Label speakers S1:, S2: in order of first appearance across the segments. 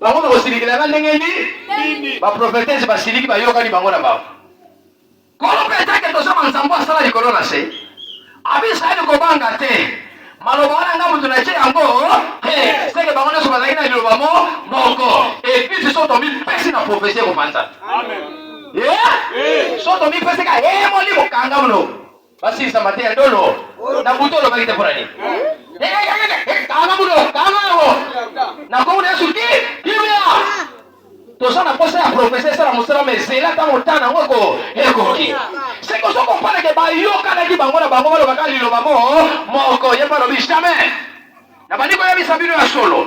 S1: Bango bakosilikela nga ndenge nini? Ba prophetese basiliki bayokani bango na bango. Kolo petake tozoma nzambo asala likolo na se. Abi Israeli kobanga te. Maloba wana nga moto na ce yango te. Seke bango nyonso bazalaki na liloba mo moko. Eglise so tomipesi na profesi ekopanzana. Amen. Yeah? Yeah. So tomipesi ka hemoli mokanga mno. basilisa mate ya ndolo na butu olobaki te mpona nini kanga bulo kanga yango na nkombo na yesu ki kimia toza na mposa ya profesa esala mosala ma ezela ntango ntana yango eko ekoki seke ozo kompaneke bayokanaki bango na bango balobaka liloba mo moko ye mpe alobi jamais nabandi koyebisa bino ya solo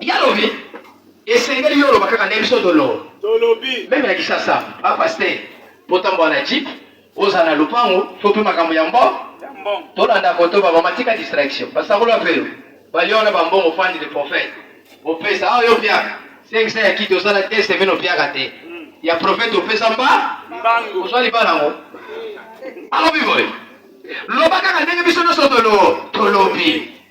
S1: Yalobi esengeli yo oloba kaka nde biso tolo tolobi meme na kisasa ba pasteur botambola na jeep ozala na lopango tope makambo ya mbo tolanda koto ba mama tika distraction basakola mpe yo balia wana bambongo fandi de prophète opesa awa ah, yo opiaka sengisa ya kiti osala te semene opiaka te hmm. ya prophète opesa mba ozwa libala yango alobi boye loba kaka ndenge biso nyonso tolo tolobi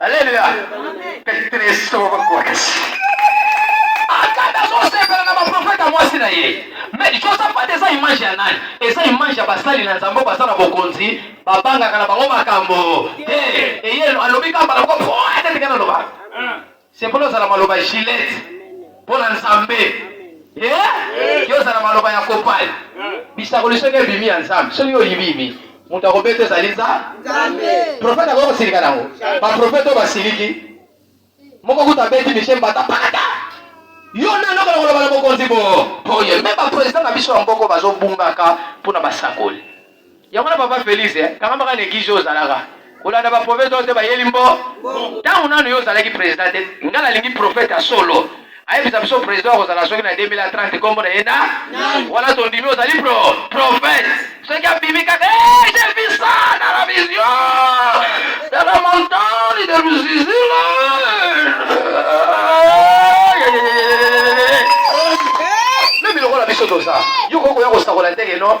S1: Aleluya. Kristo bakolisi. Akata azosepela na baprofeta mwasi na ye. Me Josafat eza image ya nani? Eza image ya basali na Nzambe baza na bokonzi, babangaka na bango makambo te. Eye alobi kaka bala moko po ete tika naloba. Sikoyo ozala maloba gilet mpo na Nzambe. Yo ozala maloba ya kopal. Bisakoli soki ebimi ya Nzambe, soki yo oyibiyibi, moto akobeta ezali Nzambe. Profeta akoki kosilika nango. Baprofeta oyo basiliki, moko kutu abeti mishe mbata pakata. Yo nani okola koloba na mokonzi bo? Oye, me baprezida na biso ya mboko bazobungaka mpo na basakoli. Yango wana papa Felix eh, kangama kaka na eglise oyo ozalaka kolanda ba prophète oyo te bayeli mbo ntango nano yo ozalaki président te ngai nalingi prophète ya solo ayebisa biso président akozala soki na 2030 nkombo na ye na wana tondimi ozali pro prophète soki abimi kaka eh, je vis ça dans la vision de la montagne de Luzizila meme lokola biso toza yo kokoya kosakola ndenge no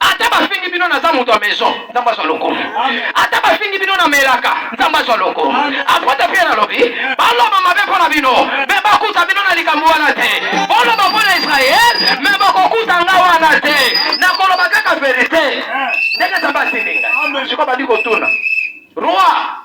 S1: Ata bafingi bino naza moto ya maison, Nzambe azwa lokumu. Ata bafingi bino na melaka, Nzambe azwa lokumu. Apotre Pierre alobi, baloba mabe mpo na bino, me bakuta bino na likambo wana te. Boloba mpo na Israel, me bakokuta nga wana te. Nakoloba kaka verite. Ndenge Nzambe atindi nga. Sikoyo bandi kotuna. Roi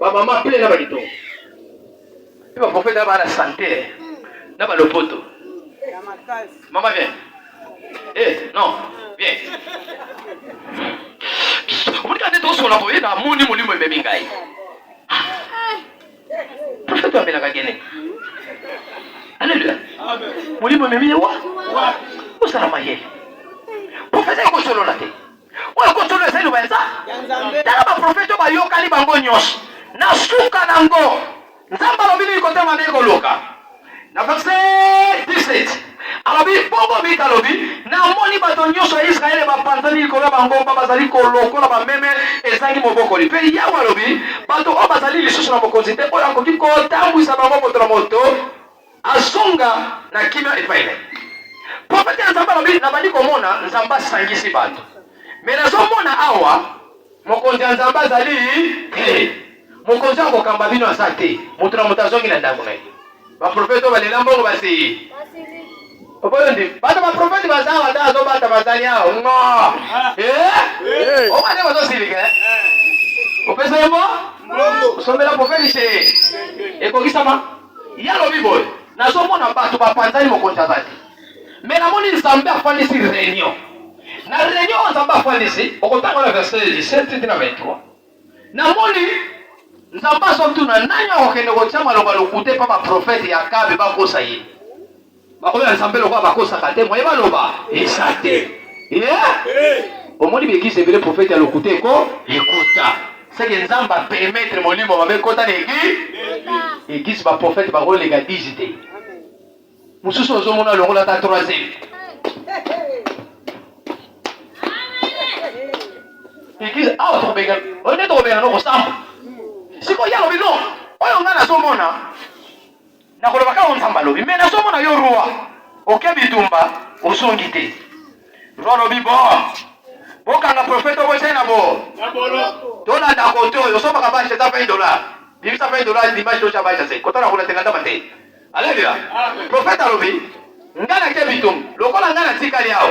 S1: ba mama pe na ba litongo pe ba prophète na ba la santé na ba lopoto mama bien eh non bien omoni kaka nde tosola boye na moni molimo ememi ngai prophète amelaka gene alleluia molimo ememi ye wa osala mayele prophète akosolola te oyo kotuna eza liloba eza tala baprofete oyo bayokani bango nyonso na suka na ngo nzambe alobi nini kote mabe koluka na verse 17 alobi bongo mika alobi namoni bato nyonso ya israele bapanzani likolo ya bangomba bazali kolokola bameme ezangi mobokoli mpe yawe alobi bato oyo bazali lisusu na mokonzi te oyo akoki kotambwisa bango moto na moto Azonga na kimia epai na ye. Profete ya Nzambe alobi, nabandi komona Nzambe asangisi bato, mais nazomona awa mokonzi ya Nzambe azali te. Mokonzi oyo akokamba bino aza te. Moto na moto azongi na ndako na ye. Baprofete oyo balela mbongo basi oboyondi bato baprofete baza awa nde azobata bazali awa ngo ah. eh? oba nde bazosilika eh? eh. opesa ye mbo osombela profete se ekokisama Ye alobi boye, Nazomona bato bapanzani, mokonzi aza te. Me namoni Nzambe afandisi reunion. Na reunion oyo Nzambe afandisi, okotanga na verset 17 na 23. Namoni Nzambe azotuna nani akokende kotia maloba lokute pa baprofete ya Akabe bakosa ye. baoyo ya nzambe lokola bakosaka te moye baloba eza te omoni baeglise ebele profete ya lokuta eko ekuta seke nzambe apermetre molimo mabe ekota na eglise eglise baprofete bakoleka 10 te mosusu ozomona longola ata 3 eglise awa tokobenga oyo nde tokobenga nokosamba sikoyo ye alobi no oyo ngai nazomona Na koloba kaka Nzambe alobi, mais nazo mona yo roi. Oke bitumba, ozongi te. Roi alobi bon. Bokanga prophète obo na bo. Na boloko. Tola da koto, yo soba ka bache za 20 dollars. Bimisa 20 dollars dimanche to chabacha se. Kota na kuna tenga ndama te. Alléluia. Prophète alobi, ngana ke bitumba, lokola ngana tikali yao.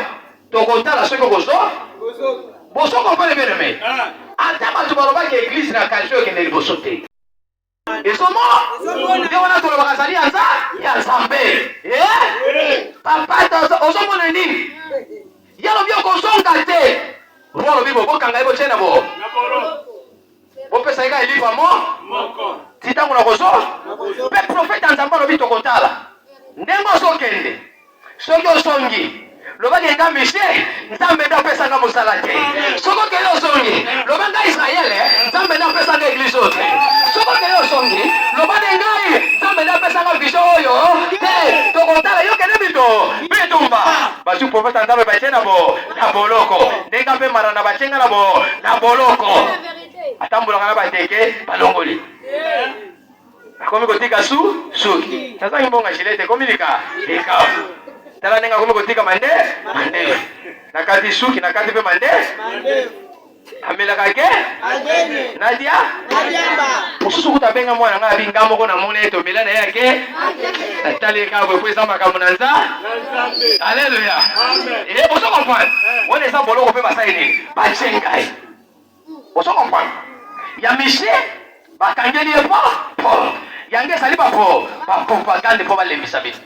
S1: Tokotala soki okozo. Bozo comprendre bien aimé. Ah. Ata bato balobaki eglise na kalfe okende liboso te. esomo nde wana tolobaka azali ya nzambe eh? papa ozomona nini ye alobi okozonga te bo alobi bo bokanga ye botie na bo bopesa ye ka elipa mo ti ntango nakozo mpe profete ya nzambe alobi tokotala ndenge ozokende Soki ozongi, loba ke nga Michel, Nzambe nde apesa nga mosala te. Soki okei ozongi, loba nga Israel, Nzambe nde apesa nga eglise oyo te. Soki okei ozongi, loba nde ngai, Nzambe nde apesa nga vision oyo te. Tokotala yo kende bindo bitumba. Bazwi profeta ya Nzambe batie na bo na boloko. Ndenge mpe marana batie nga na bo na boloko. Atambolaka na bateke balongoli. Nakomi kotika su suki. Nazangi mbongo ya jilete ekomi lika likafu. Tala ndenge akomi kotika mande mande. Nakati suki nakati mpe mande. Amelaka ke Nadia mosusu kuta abenga mwana ngai abi nga moko namoni ete omela na ye ake natali ye kaka boye mpo eza makambo na nza aleluya ozo comprendre wana eza boloko mpe basali nini bacengai Ozo comprendre? Ya Michel bakangeli ye po po yango ezali ba po ba propagande po balembisa bino.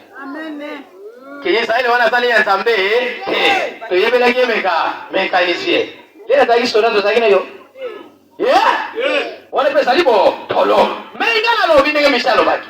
S1: Ke Israele wana azali ya Nzambe te, toyebelaki ye meka mekanisie ye azalaki soda tozalaki na yo wana mpe ezali botolo. Mei ngai nalobi ndenge Michel alobaki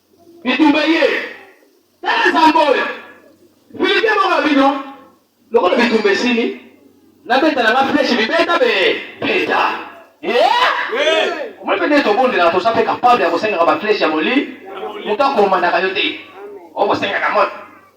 S1: Bitumba ye. Tala zambo oyo. Filike moko ya bino. Lokola bitumba esili. Nabeta na nga flèche bibeta be. Beta. Eh! Omoni pe ndenge tobondelaka toza pe capable ya kosengaka ba flèche ya moli. Moto akomandaka yo te. Okosengaka moto.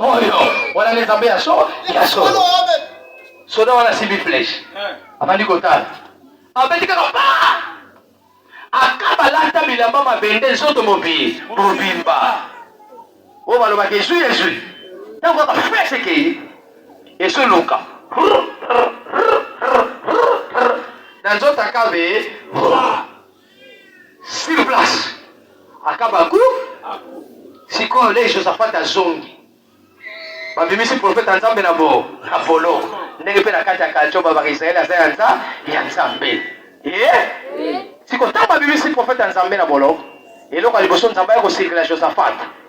S1: oyo wana nde nzambe ya so ya solo soda wana asimbi fleshe eh. abandi kotala abeti kaka pa akaba lata bilamba mabende nzoto mobi mobimba oyo balobaka ezwi ezwi ntango kaka fleshe ekei esoluka na nzoto akabe sur place akaba ku sikoyo le josaphat azongi babimisi profete ya nzambe na bo na boloko ndenge mpe na kati ya kalto babaka israele aza ya nza ya nzambe ye eh? siko ntango babimisi profete ya nzambe na boloko eloko ya liboso nzambe aya kosirikela josaphat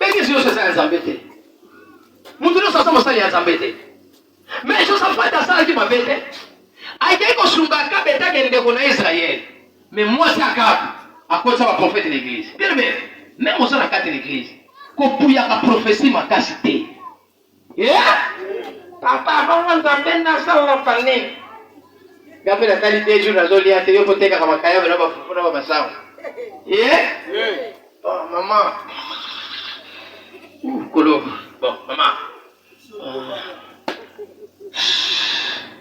S1: Eglise nyonso eza ya Nzambe te. Moto nyonso aza mosali ya Nzambe te. Mais Josaphat asalaki mabe te. Akei kosunga Akabe etake ndeko na Israël. Mais mwasi Akabe akotisa ba prophète na eglise. Bien bien. Même oza na kati na eglise. Kopuyaka prophetie makasi te. Yeah! Papa bongo nzambe nasala fane. Gape na tali te jour nazo lia te yo ko teka kama kaya na ba fufu na ba masawa. Yeah? Yeah. Oh mama. Uh, kolo. Bon, mama. Uh.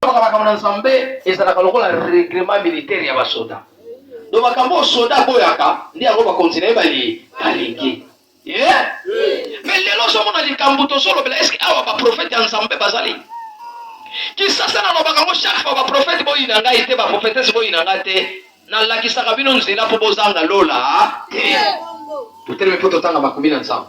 S1: Tolobaka makambo na Nzambe ezalaka lokola reglement militaire ya basoda. Donc makambo oyo soda aboyaka nde yango bakonzi na ye bali balingi. Yeah. Mais lelo ozomona likambo tozolobela eske awa baprofete ya Nzambe bazali? Kisasa nalobaka yango chaque fois baprofete boyina ngai te, baprofetese boyina ngai te, nalakisaka bino nzela mpo bozanga lola te. Totelemi mpo totanga makomi na Nzambe.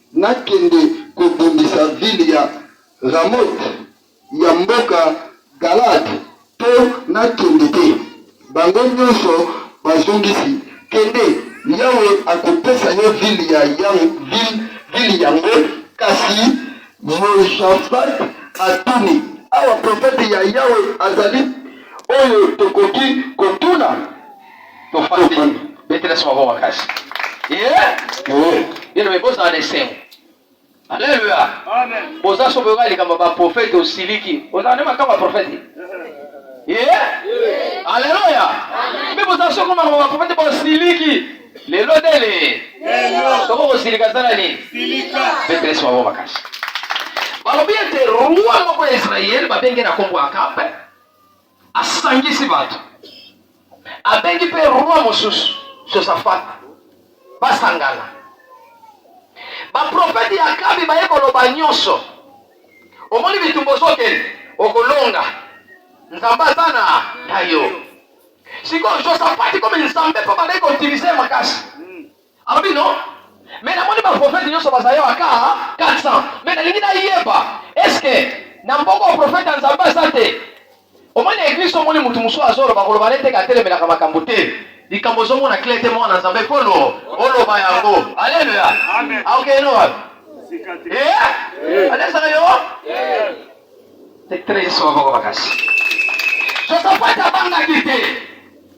S2: Nakende kobundisa vile ya Ramote ya mboka Galaad to nakende te? Bango nyonso bazongisi, Kende, Yawe akopesa yo vile ya vile, vile yango. Kasi Yoshafat atuni, Awa profete ya Yawe azali oyo tokoki kotuna? tofandi
S1: betela sima bo makasi bino me bozala na esengo aleluya boza so boyoka likambo ya baprofete osiliki ozala nde makambo ya profete aleluya mpe boza so koma makambo ya profete bosiliki lelo ndele soko kosilika zala nini betela sima bo makasi balobi ete roi moko ya israele babenge na nkombo akabe asangisi bato, abengi mpe roi mosusu Josafata basangana. Baprofeti ya Akabi baye koloba nyonso, omoni bitumba ozokende, okolonga, Nzambe aza na yo. Sikoyo Josafati komi Nzambe mpo bandaki koutilize makasi, Alobi non mais namoni ba prophète nyonso bazali awa ka 400 mais nalingi nayeba est ce que na mboka ya prophète ya Nzambe aza te omoni eglise omoni motu mosusu azoloba koloba na eteke atelemelaka makambo te likambo ozomona kle te mwana nzambe kolo oloba yango aleluya aokende wapi alesaka yo te tres yesu baboko makasi sosapata abangaki te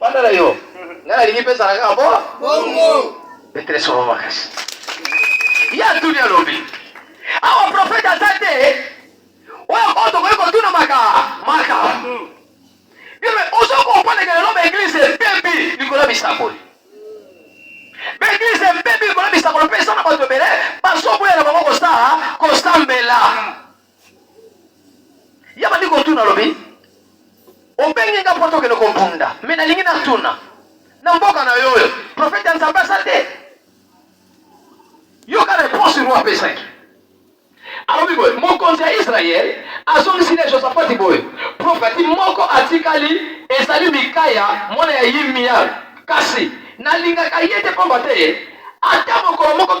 S1: Banda na yo. Nga nalingi pesa na kaka bo. Bongo. Petre solo makasi. Ya tuni alobi. Awa profeta aza te. Oyo oyo tokoki kotuna maka. Maka. Bebe ozo kopaneke lelo ba eglise ebebi likolo ya bisakoli. Ba eglise ebebi likolo ya bisakoli mpe eza na bato ebele bazoboya na bango kosala kosambela. ya bandeko otuna alobi obengi nga mpo tokende kobunda me nalingi natuna na mboka na yo oyo profete ya nzambe asa te yoka reponse roi apesaki alobi boye mokonzi ya israele azongisi na josafati boye profeti moko atikali ezali mikaya mwana ya yimia kasi nalingaka ye te mpamba te ata mokolo moko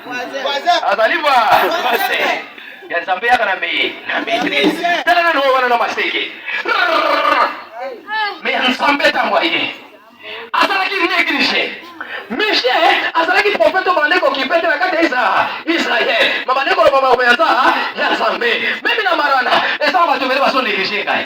S1: azali ba ya nzambe yaka na meye na maitrise tala nano wana na maseke me ya nzambe ntango aye azalaki neglige mishe azalaki profete oyo bandeko kipete na kati ya israel ma bandeko loba makoya nza ya nzambe meme na marana eza bato ebele bazo neglige ngai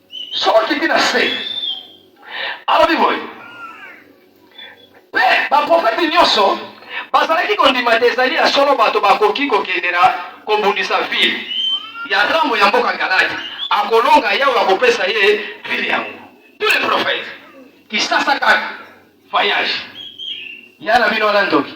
S1: Soki okiti na se, alobi boye, mpe baprofeti nyonso bazalaki kondima te ezali ya solo bato bakoki kokende na kobundisa vile ya Rambo ya mboka Galadi, akolonga Yawe akopesa ye vile yango. Tous les prophètes kisasa kaka voyage ya na bino wana ndoki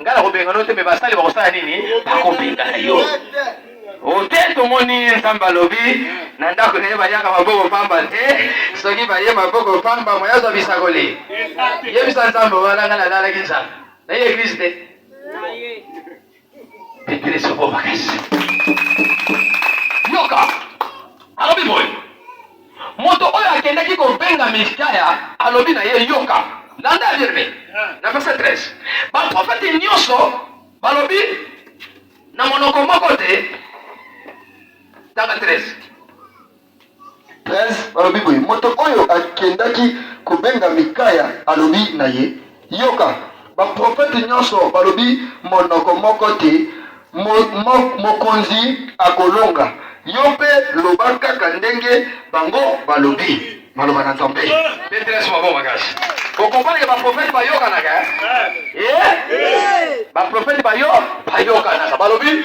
S1: Nga na kobenga no te me basali bakosala nini? Bakobengana yo. Ote tomoni Nzambe alobi na ndako na ye bayaka maboko pamba te, soki baye maboko pamba moya azwa bisakoli. Yebisa Nzambe wana nga nalalaki Nzambe. Na ye eglise te. Petele soko makasi. Yoka. Alobi boye. Moto oyo akendaki kobenga Mikaya alobi na ye, Yoka, landa Yeremi. Na verse 13, baprofeti nyonso balobi na monoko moko te. Tanga
S2: 13. 13 balobi boye, moto oyo akendaki kobenga Mikaya alobi na ye, Yoka, baprofete nyonso balobi monoko moko te, mo, mo, mokonzi akolonga. Yo mpe loba kaka ndenge bango balobi maloba na Nzambe. Petrese mabongo
S1: makasi. Bokombanike baprofete bayokanaka eh? Eh? Baprofete bayo bayokanaka balobi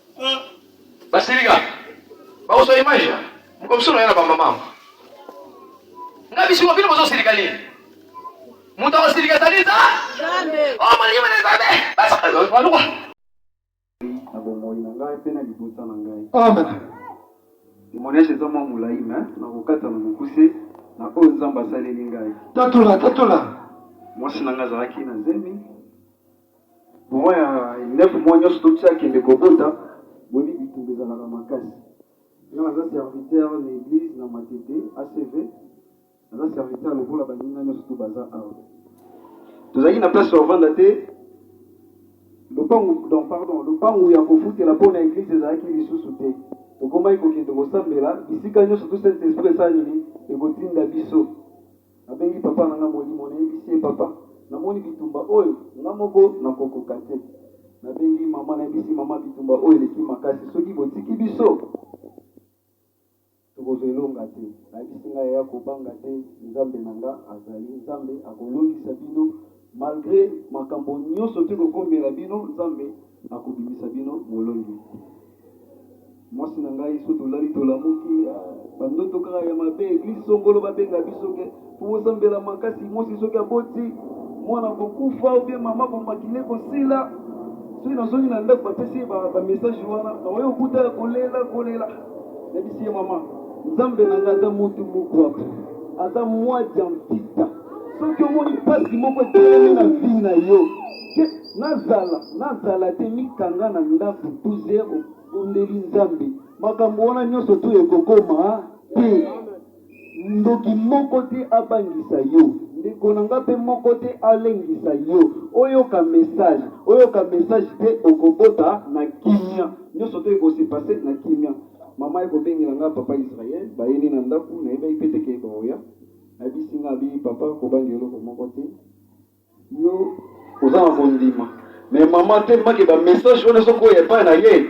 S1: basilika bakozwa image ya mokomsolo ya na bamama nga bisiko bino bozosilika nini moto akosilika ezali za o molingi mene nzambe baluka na bomoi na ngai
S2: mpe na libota na ngai amen
S3: témoignage eza mwa molai me nakokata na mokuse na oyo nzambe asaleli ngai tatola tatola
S2: mwasi
S3: na ngai azalaki na zemi Maman ya neuf mois nionso to tia akende ko bota boyebi bitumba ezalaka makasi. Nga naza serviteur na eglise na Matete ACV naza serviteur lokola baninga nionso tout baza awa. Tozalaki na place ya kovanda te lopangu donc pardon lopangu ya kofutela po na eglise ezalaki lisusu te. Tokomaki kokende kosambela bisika nionso tout saint esprit esala nini ekotinda biso. Nabengi papa na nga molimo nayebisi ye papa namoni bitumba oyo nga moko nakokoka te nabengi mama nayebisi mama bitumba oyo eleki makasi soki botiki biso tokozwa elonga te nayebisi nga yaya kobanga te nzambe na nga azali nzambe akolongisa bino Malgre makambo nyoso teko komela bino nzambe ako bimisa bino molongi mwasi na ngai so tolali tolamuki ah, bandoto kaka ya mabe eglise songolo babenga biso ke tokosambela makasi mwasi soki aboti mwana kokufa obie mama komakile kosila soki nazongi na ndako bapesi ye bamessage ba wana naoyo okuta ya kolela kolela nabisi ye mama nzambe na ngai ata mutu mokuaku ata mwa diantita soki omoni mpasi moko etelemi na vie na yo ke nazala nazala te mikanga na ndako tu zero bondeli nzambe makambo wana nyonso tu ekokoma te ndoki moko te abangisa yo ndeko na nga mpe moko te alengisa yo oyoka message oyoka message te okobota na kimia nyonso to ekosepase na kimia mama ekobengela nga papa israel bayeli na ndako nayebaki mpe teke baoya Nayebisi nga abi papa kobangi eloko moko te yo oza na kondima mais maman te make ba message wana soko oyo epai na ye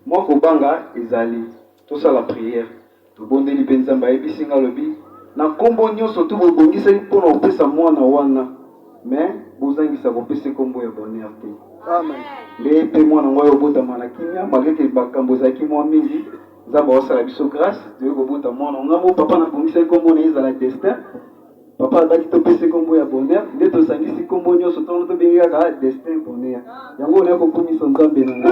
S3: mwa kobanga ezali tosala prière tobondeli mpe nzambe ayebisi nga alobi na nkombo nyonso tu bobongisaki mpo na kopesa mwana wana mais bozangisa kopesa nkombo ya bonheur te nde mpe mwana ngo ya obotama na kimia malgreke bakambo ezalaki mwa mingi Nzambe akosala biso grace toye kobota mwana ngambo papa na bongisa ekombo na ezala destin papa alobaki topesa ekombo ya bonheur nde tosangisi kombo nyonso ntono tobengi kaka destin bonheur yango onaye kokumisa nzambe na ngai